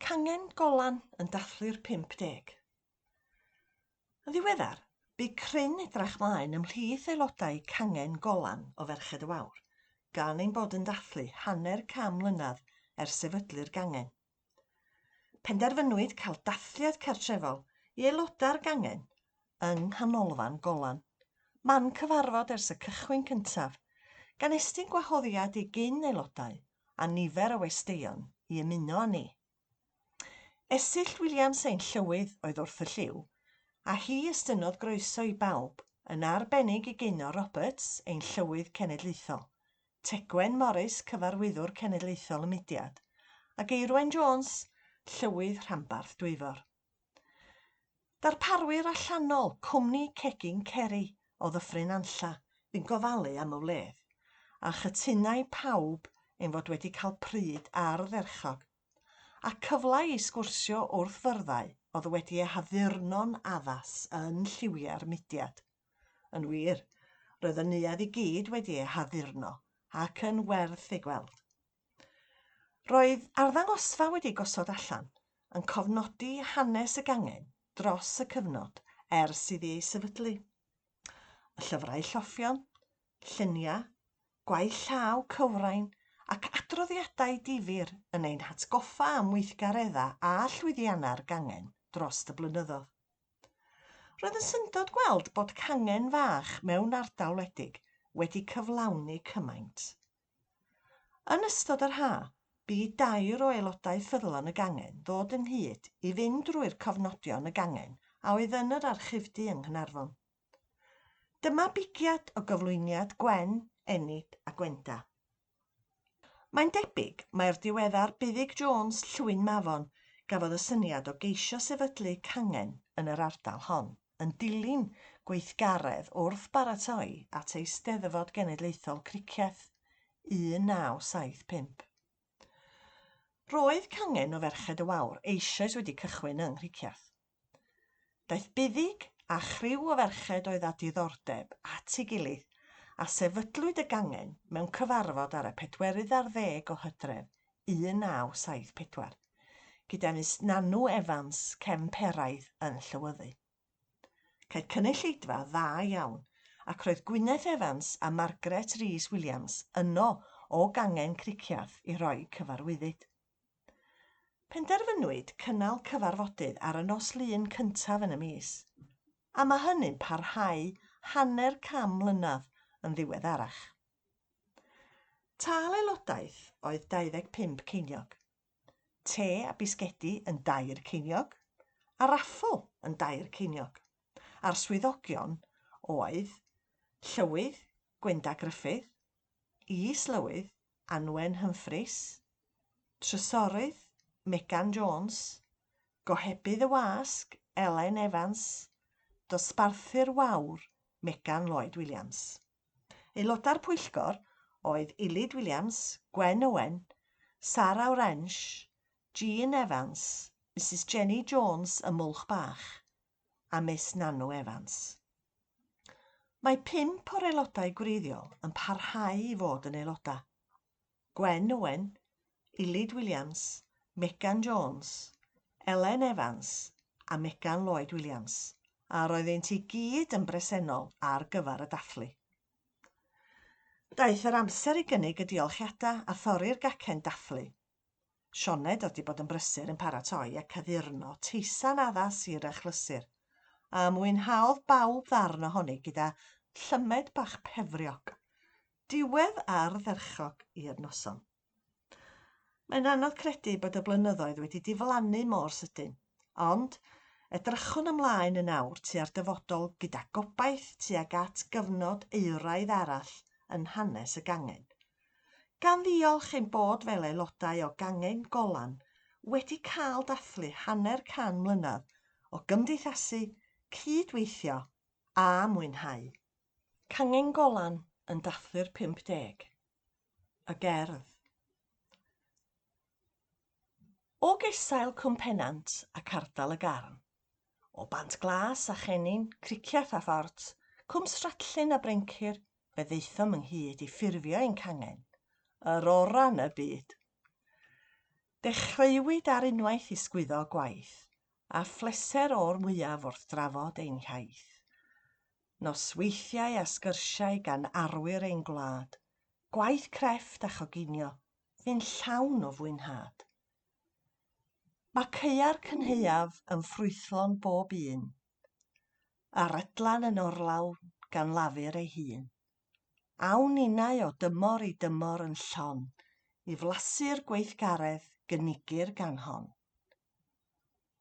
Cangen Golan yn dathlu'r 50. Yn ddiweddar, bu cryn edrach mlaen ymhlith aelodau Cangen Golan o Ferched y Wawr gan ein bod yn dathlu hanner can mlynedd ers sefydlu'r gangen. Penderfynwyd cael dathliad cartrefol i aelodau'r gangen yng Nghanolfan Golan. Man cyfarfod ers y cychwyn cyntaf, gan estyn gwahoddiad i gyn aelodau a nifer o westeion i ymuno â ni. Esill Williams ein Llywydd oedd wrth y lliw, a hi estynnodd groeso i bawb, yn arbennig i Gaynor Roberts, ein Llywydd Cenedlaethol, Tegwen Morris, Cyfarwyddwr Cenedlaethol y Mudiad, a Geirwen Jones, Llywydd Rhanbarth Dwyfor. Darparwyr allanol, cwmni cegin Ceri o Ddyffryn Anlla fu'n gofalu am y wledd, a chytunai pawb ein fod wedi cael pryd ardderchog, a cyfle i sgwrsio wrth fyrddau oedd wedi eu haddurno'n addas yn lliwiau'r mudiad. Yn wir, roedd y neuadd i gyd wedi ei haddurno, ac yn werth ei gweld. Roedd arddangosfa wedi gosod allan yn cofnodi hanes y gangen dros y cyfnod ers iddi ei sefydlu. Y llyfrau lloffion, lluniau, gwaith llaw cywrain ac adroddiadau difyr yn ein hatgoffa am weithgareddau a llwyddiannau'r gangen dros y blynyddoedd. Roedd yn syndod gweld bod cangen fach mewn ardal wledig wedi cyflawni cymaint. Yn ystod yr haf, bu i dair o aelodau ffyddlon y gangen ddod ynghyd i fynd drwy'r cofnodion y gangen a oedd yn yr Archifdy yng Nghaernarfon. Dyma bigiad o gyflwyniad Gwen, Enid a Gwenda. Mae'n debyg mai'r diweddar Buddug Jones, Llwyn Mafon, gafodd y syniad o geisio sefydlu cangen yn yr ardal hon. yn dilyn gweithgaredd wrth baratoi at Eisteddfod Genedlaethol Cricieth 1975. Roedd cangen o Ferched y Wawr eisoes wedi cychwyn yng Nghricieth. Daeth Buddug a chriw o ferched oedd â diddordeb at ei gilydd a sefydlwyd y gangen mewn cyfarfod ar y pedwerydd ar ddeg o Hydref 1974, gyda llys Nanw Evans cefn Peraidd yn Llywyddu. Cael cynulleidfa dda iawn, ac roedd Gwyneth Evans a Margaret Rees Williams yno o gangen Cricieth i roi cyfarwyddyd. Penderfynwyd cynnal cyfarfodydd ar y nos Lun cyntaf yn y mis, a mae hynny'n parhau hanner can mlynedd yn ddiweddarach. Tâl aelodaeth oedd 25 ceiniog, te a bisgedi yn dair ceiniog, a raffl yn dair ceiniog, a'r swyddogion oedd Llywydd Gwenda Gruffydd, Is-lywydd Anwen Humphreys, Trysorydd Megan Jones, Gohebydd y Wasg Elen Evans, Dosbarthi'r Wawr Megan Lloyd Williams. Aelodau'r pwyllgor oedd Ilyd Williams, Gwen Owen, Sara Orange, Jean Evans, Misus Jenny Jones y Mwlch Bach a Miss Nanu Evans. Mae pump o'r aelodau gwreiddiol yn parhau i fod yn aelodau. Gwen Owen, Ilid Williams, Megan Jones, Elen Evans a Megan Lloyd Williams, a roeddent i gyd yn bresennol ar gyfer y dathlu. Daeth yr amser i gynnig y diolchiadau a thorri'r gacen dathlu. Sioned oedd 'di bod yn brysur yn paratoi ac addurno teisan addas i'r achlysur, a mwynhaodd bawb ddarn ohoni gyda llymed bach pefriog. Diwedd ardderchog i'r noson. Mae'n anodd credu bod y blynyddoedd wedi diflannu mor sydyn, ond edrychwn ymlaen yn awr tua'r dyfodol gyda gobaith tuag at gyfnod euraidd arall yn hanes y gangen. Gan ddiolch ein bod fel aelodau o Gangen Golan wedi cael dathlu hanner can mlynedd o gymdeithasu, cyd-weithio a mwynhau. Cangen Golan yn dathlu'r 50. Y gerdd. O gesail Cwm Pennant ac ardal y Garn, o Bant Glas a Chennin, Cricieth a Phort, Cwm Stratlin a Brencir, fe ddaethom ynghyd i ffurfio ein cangen, yr orau yn y byd. Dechreuwyd ar unwaith i sgwyddo gwaith, a phleser o'r mwyaf wrth drafod ein hiaith. nosweithiau a sgyrsiau gan arwyr ein gwlad, gwaith crefft a choginio, fu'n llawn o fwynhad. Mae caeau'r cynhaeaf yn ffrwythlon bob un, a rydlan yn orlawn gan lafur ei hun. Awn ninnau o dymor i dymor yn llon i flasu'r gweithgaredd gynigir gan hon.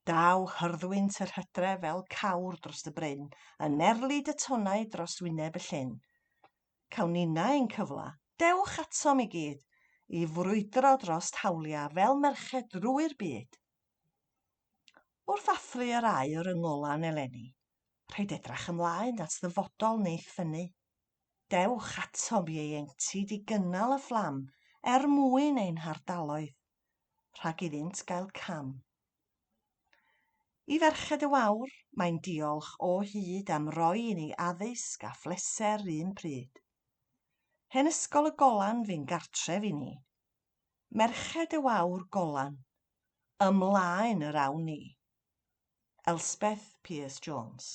Daw hyrddwynt yr hydref fel cawr dros y bryn, yn merlyd y tonnau dros wyneb y llyn. Cawn ninna ein cyfla, dewch atom i gyd, i frwydro drost hawliau fel merched drwy'r byd. Wrth athru yr aur yng ngolan eleni, rhaid edrach ymlaen at ddyfodol neith ffynnu. Dewch atom ieuenctid i gynnal y fflam er mwyn ein hardaloedd. rhag iddynt gael cam. I Ferched y Wawr, mae'n diolch o hyd am roi i ni addysg a phleser 'r un pryd. Hen Ysgol y Golan fu'n gartref i ni. Merched y Wawr Golan, ymlaen yr awn ni! Elspeth Pearce Jones.